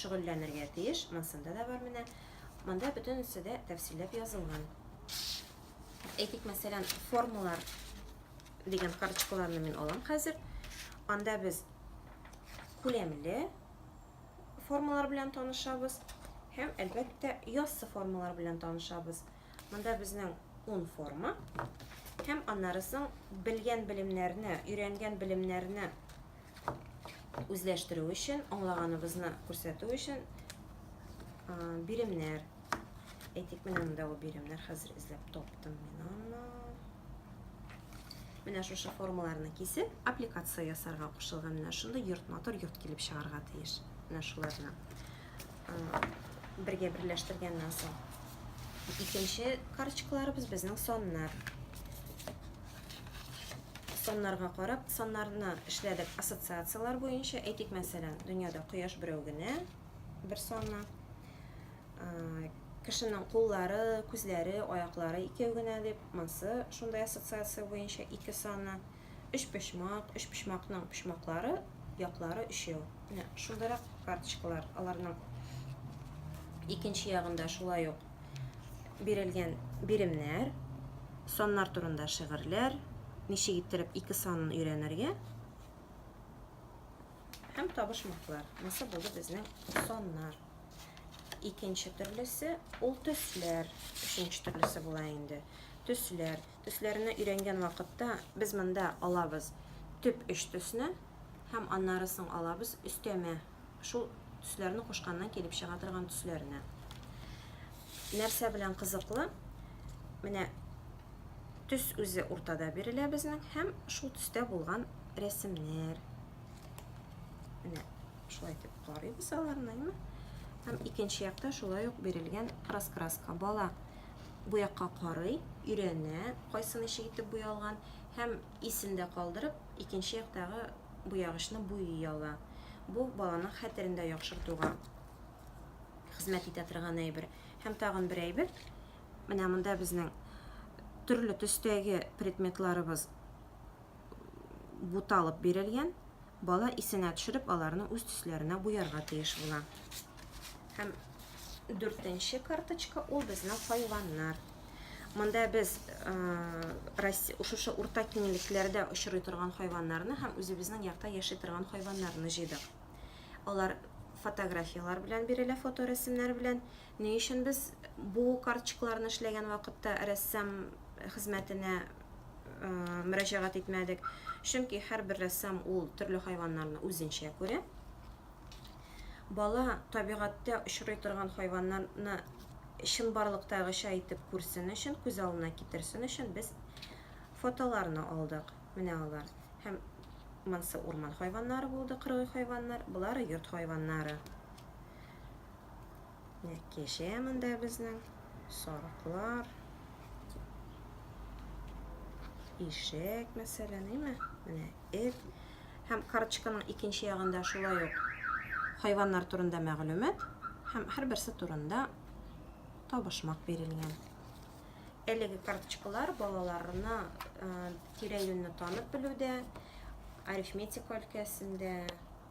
шөгыльләнергә тиеш, монсында да бар менә. Монда бөтенесе дә тәфсилләп язылган. Әйтик, мәсәлән, формалар дигән карточкаларны мин алам хәзер. Анда без күләмле формалар белән танышабыз һәм, әлбәттә, яссы формалар белән танышабыз. Монда безнең ун форма. Һәм аннары соң белгән белемнәрне, өйрәнгән белемнәрне үзләштерү өчен, аңлаганыбызны күрсәтү өчен биремнәр, әйтик, менә монда ул биремнәр хәзер эзләп таптым мин аны. Менә шушы формаларны кисеп, аппликация ясарга кушылган. Менә шундый йорт матур йорт килеп чыгарга тиеш. Менә шуларны. бергә берләштергәннән соң. Икенче карточкаларыбыз безнең саннар. Саннарга карап, саннарны эшләдек ассоциацияләр буенча. Әйтик, мәсәлән, дөньяда кояш берәү генә, бер санна. Кешенең куллары, күзләре, аяклары икәү генә дип, монсы шундай ассоциация буенча ике санна. Өчпочмак, өчпочмакның почмаклары, яклары өчәү. Менә шундарак карточкалар, аларның икенче ягында шулай ук бирелгән биремнәр, саннар турында шигырьләр, ничек иттереп ике санын өйрәнергә һәм табышмаклар. Нәрсә булды безнең саннар. Икенче төрлесе ул төсләр. Өченче төрлесе була инде. Төсләр. Төсләрне өйрәнгән вакытта без монда алабыз төп өч төсне һәм аннары соң алабыз өстәмә шул төсләрне кушканнан килеп чыга торган төсләрне. Нәрсә белән кызыклы? Менә төс үзе уртада бирелә безнең һәм шул төстә булган рәсемнәр. Менә шулай итеп карыйбыз аларны, әйме? Һәм икенче якта шулай ук бирелгән раскраска бала бу якка карый, өйрәнә, кайсы ничек итеп буялган һәм исендә калдырып, икенче яктагы буягычны буйый ала. Бу баланың хәтерендә яхшыртуга хезмәт итә торган әйбер. Һәм тагын бер әйбер, менә монда безнең төрле төстәге предметларыбыз буталып бирелгән. Бала исенә төшереп, аларны үз төсләренә буярга тиеш була. Һәм дүртенче карточка ул безнең хайваннар. Монда без шушы урта киңлекләрдә очрый торган хайваннарны һәм үзебезнең якта яши торган хайваннарны җыйдык. Алар фотографияләр белән бирелә, фоторәсемнәр белән. Ни өчен без бу карточкаларны эшләгән вакытта рәссам хезмәтенә мөрәҗәгать итмәдек? Чөнки һәрбер рәссам ул төрле хайваннарны үзенчә күрә. Бала табигатьтә очрый торган хайваннарны чынбарлыктагыча итеп күрсен өчен, күз алдына китерсен өчен без фотоларны алдык. Менә алар. Һәм монысы урман хайваннары булды, кыргый хайваннар, болары йорт хайваннары. Кеше монда безнең сарыклар. Ишек, мәсәлән, әйме? Менә эт. Һәм карточканың икенче ягында шулай ук хайваннар турында мәгълүмат һәм һәрберсе турында табышмак бирелгән. Әлеге карточкалар балаларына тирә-юньне танып белүдә, арифметика өлкәсендә,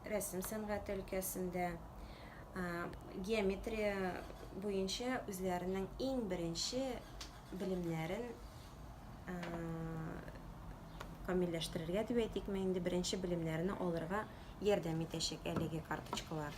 рәсем сәнгате өлкәсендә, геометрия буенча үзләренең иң беренче белемнәрен камилләштерергә дип әйтикме инде, беренче белемнәрне алырга ярдәм итәчәк әлеге карточкалар.